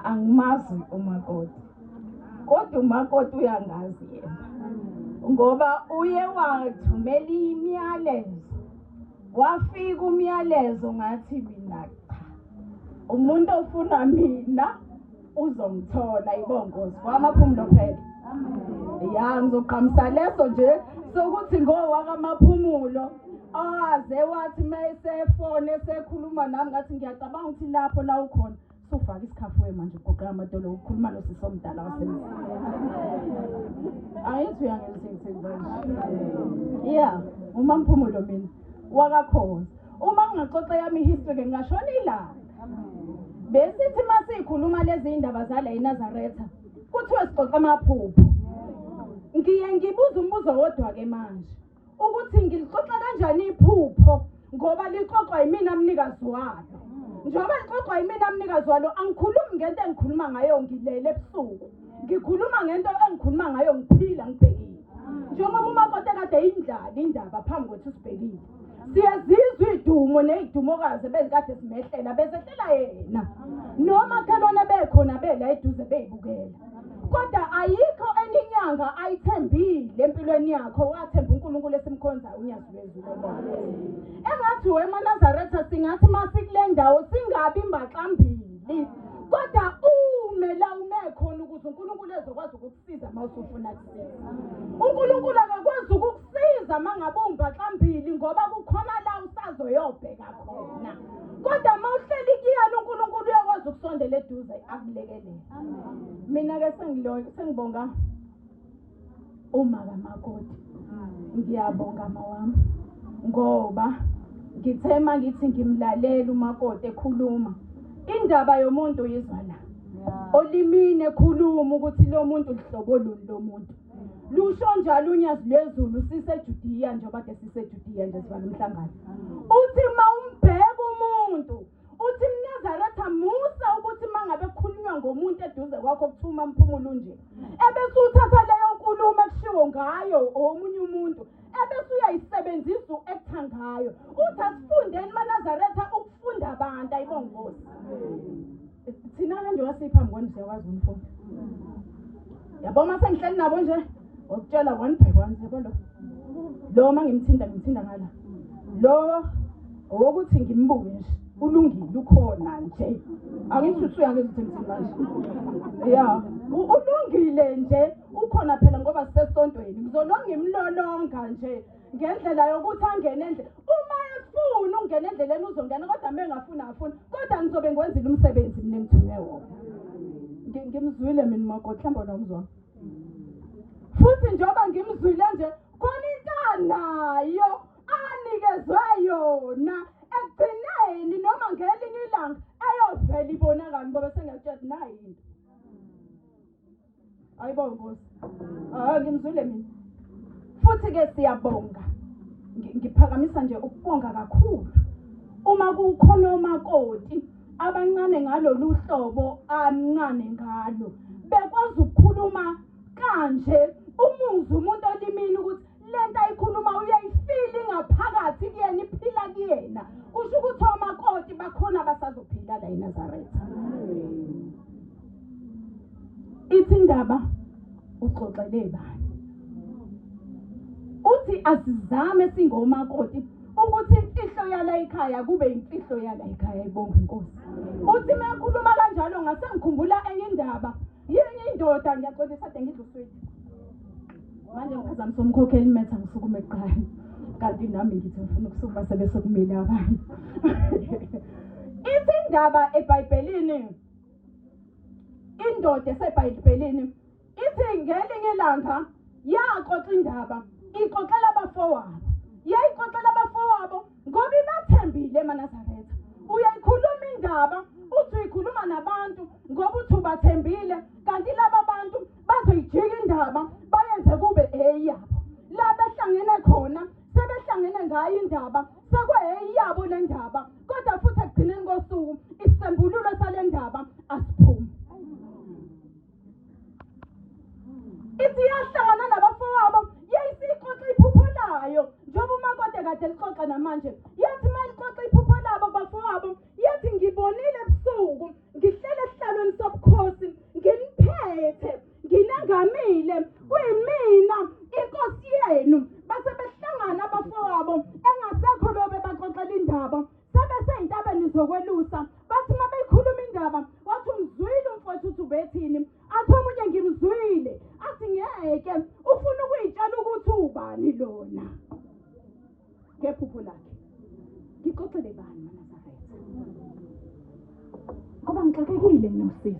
angimazi umakoti kodwa umakoti uyangazi yena ngoba uye wathumela imiyalezo wafika umyalezo ngathi mina cha umuntu ofuna mina uzomthola ibongozi kwamaphumulo phela ya ngizoqhamisa leso nje sokuthi ngowakamaphumulo aze wathi uma esefone esekhuluma nami ngathi ngiyacabanga ukuthi lapho la ukhona sofaka isikhafu we manje ugoqela amadolo ukhuluma nosisi omdala wasemzini angithi uyangizisengithenzanje ya uma mphumulo mina wakakhoza uma ngingaxoxa yami ihistory-ke ngingashona ilanga besithi uma siyikhuluma lezi yindaba zala enazaretha kuthiwe sixoxa amaphupho ngiye ngibuza umbuzo wodwa-ke manje ukuthi ngilixoxa kanjani iphupho ngoba lixoxwa yimina mnikazi walo njengoba lixoxwa yimina mnikazi walo angikhulumi ngento engikhuluma ngayo ngilele ebusuku ngikhuluma ngento engikhuluma ngayo ngiphila ngibhekile njengoba umakoti ekade yindlala indaba phambi kwethu sibhekile siyazizwa iy'dumo ney'dumokazi ebezikade zimehlela bezehlela yena nomakhelwane bekhona bela eduze beyibukela kodwa ayikho enye inyanga ayithembile empilweni yakho wathemba unkulunkulu esimkhonzayo unyazi lwezulu engathi wemanazaretha singathi uma sikule ndawo singabi mbaxambili kodwa ume la ume khona ukuze unkulunkulu ezokwazi ukukusiza uma usufuna unkulunkulu akakwazi ukukusiza uma ngabe ungibhaxambili ngoba kukhona la usazoyobheka khona kodwa uma uhleli kuyena unkulunkulu uyakwazi ukusondela eduze akulekelele mina-ke sengibonga umaka makoti ngiyabonga mawami ngoba ngithe uma ngithi ngimlalele umakoti ekhuluma indaba yomuntu yizwa la olimini ekhuluma ukuthi lo muntu luhlobo luni lo muntu lusho njalo unyazi lwezulu sisejudiya njengoba ke sisejudiya nje sivala umhlangano uthi uma umbheka umuntu uthi mnazaretha musa ukuthi uma ngabe kukhulunywa ngomuntu eduze kwakho kuthiwa uma mphumulo unje ebese uthatha leyo nkulumo ekushiwo ngayo omunye umuntu ebese uyayisebenzisa u-ektha ngayo uthi asifundeni manazaretha ukufunda abantu ayibongozi thina kanje wasiphambi kwani siyakwazi umfunda yabo uma sengihleli nabo nje wakutshela one by one yabo lo lo uma ngimthinta ngimthinta ngala lo owokuthi ngimbuke nje ulungile ukhona nje angisho ukuthi uyangizithemthini manje ya ulungile nje ukhona phela ngoba sisesontweni ngizolwa ngimlolonga nje ngendlela yokuthi angene endle uma efuna ungena endleleni uzongena kodwa uma engafuni afuni kodwa ngizobe ngiwenzile umsebenzi mina engithunywe wona Ngi- ngimzwile mina umakoti mhlawumbe wena umzona futhi njengoba ngimzwile nje khona into anayo anikezwe yona ekugcineni noma ngelinye ilanga eyovela ibonakala ngoba sengiyakutshela ukuthi nayi into Ayibonga Nkosi. Ah ngimzwile mina. Futhi ke siyabonga. Ngiphakamisa nje ukubonga kakhulu. Uma kukhona omakoti abancane ngalolu hlobo amncane ngalo bekwazi ukukhuluma kanje umuzi umuntu olimini ukuthi lento ayikhuluma uyayifili ngaphakathi kuyena iphila kuyena kusho ukuthi omakoti bakhona abasazophila la eNazaretha ithi indaba uxoxele bani uthi asizame singomakoti ukuthi imfihlo yala ekhaya kube imfihlo yala ekhaya ibonga inkosi uthi mekhuluma kanjalo ngase ngikhumbula enye indaba yini indoda ngiyaxolisa de ngidluswile manje ngiphazamisa umkhokheli metha ngisukume kuqala kanti nami ngithi ngifuna ukusukuma sebesekumile abantu ithi indaba ebhayibhelini indoda esebhayibhelini ithi ngelinye ilanga yaxoxa indaba ixoxela abafowabo yayixoxela abafowabo ngoba ibathembile emanazaretha uyayikhuluma indaba uthi uyikhuluma nabantu ngoba uthi ubathembile kanti laba bantu bazoyijika indaba bayenze kube eyabo la behlangene khona sebehlangene ngayo indaba sekweyabo le ndaba kodwa futhi ekugcineni kosuku isisembululo sale ndaba asiphumi ithi iyahlangana nabafowabo yayisiyixoxa iphupho layo njengoba umakoti kade lixoxa namanje yathi uma lixoxa iphupho labo bafowabo yathi ngibonile ebusuku ngihlele esihlalweni sobukhosi nginiphethe nginengamile kuyimina inkosi yenu base behlangana abafowabo engasekho lobe baxoxela indaba sebeseyintabeni zokwelusa bathi uma beyikhuluma indaba wathi umzwile umfowethu uthi ubethini athi omunye ngimzwile athi ngeke ufuna ukuyitshela ukuthi ubani lona ngephupho lakhe ngixoxele bani manazaretha ngoba ngixakekile nginosisi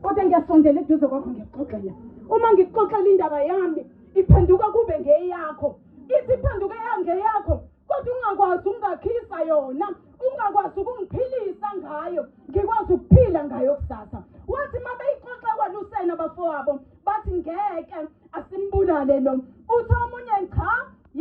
kodwa ngiyasondela eduze kwakho ngikuxoxela uma ngikuxoxela indaba yami iphenduka kube ngeyakho ithi iphenduka ngeyakho kodwa ungakwazi ukungakhisa yona ungakwazi ukungiphilisa ngayo ngikwazi ukuphila ngayo kusasa wathi uma beyixoxa kwalusena abafowabo bathi ngeke asimbulale lo uthi omunye cha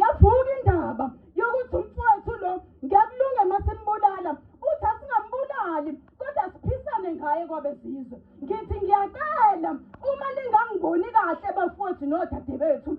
yavuka indaba yokuthi umfowethu lo ngiyakulunga masimbulala uthi asingambulali kodwa siphisane ngaye kwabezizwe ngithi ngiyacela uma ningangiboni kahle bafowethu nodade bethu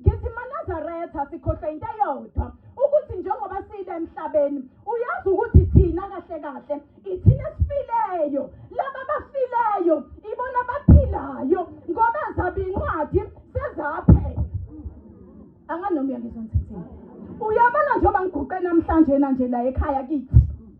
ngithi manazaretha sikhohlwe into eyodwa ukuthi njengoba siyile emhlabeni uyazi ukuthi thina kahle kahle ithina esifileyo laba bafileyo ibona baphilayo ngoba zaba incwadi sezaphela anganoma uyangizwa ngithini uyabona njengoba ngiguqe namhlanje na nje la ekhaya kithi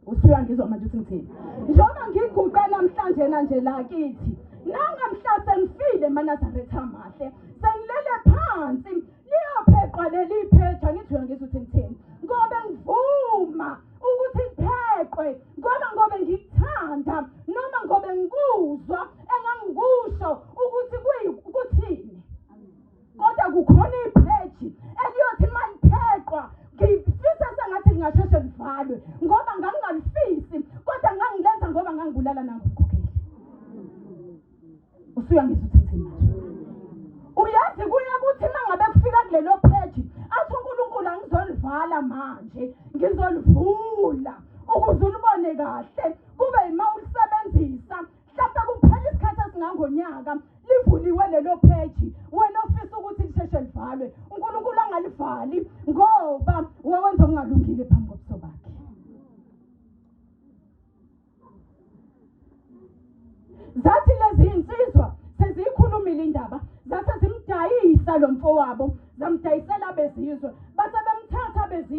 usuyangizwa manje ukuthi ngithini njengoba ngiguqe namhlanje na nje la kithi nangamhla sengifile manazaretha mahle sengilele phansi liyopheqwa leli phetha ngizwe ngizwe ukuthi ngithini ngoba ngivuma ukuthi kupheqwe ngoba ngobe ngikuthanda noma ngobe ngikuzwa engangikusho ukuthi kuthini kodwa kukhona ipheji eliyothi uma lipheqwa ngifisa sengathi lingasheshe livalwe ngoba ngangingalifisi kodwa ngangilenza ngoba ngangibulala nangikukhokheli usuyangizwa ukuthi ngithini manje uyazi kuye ukuthi uma ngabe kufika kulelo pheji athi unkulunkulu angizolivala manje ngizolivula ukuze ulibone kahle kube yima ulisebenzisa mhlawumbe kuphela isikhathi esingangonyaka livuliwe lelo pheji wena ofisa ukuthi lisheshe livalwe unkulunkulu angalivali ngoba wawenza okungalungile phambi kobuso bakhe zathi lezi insizwa seziyikhulumile indaba zase zimdayisa lo mfowabo zamdayisela bezizwe base bemthatha bezizwe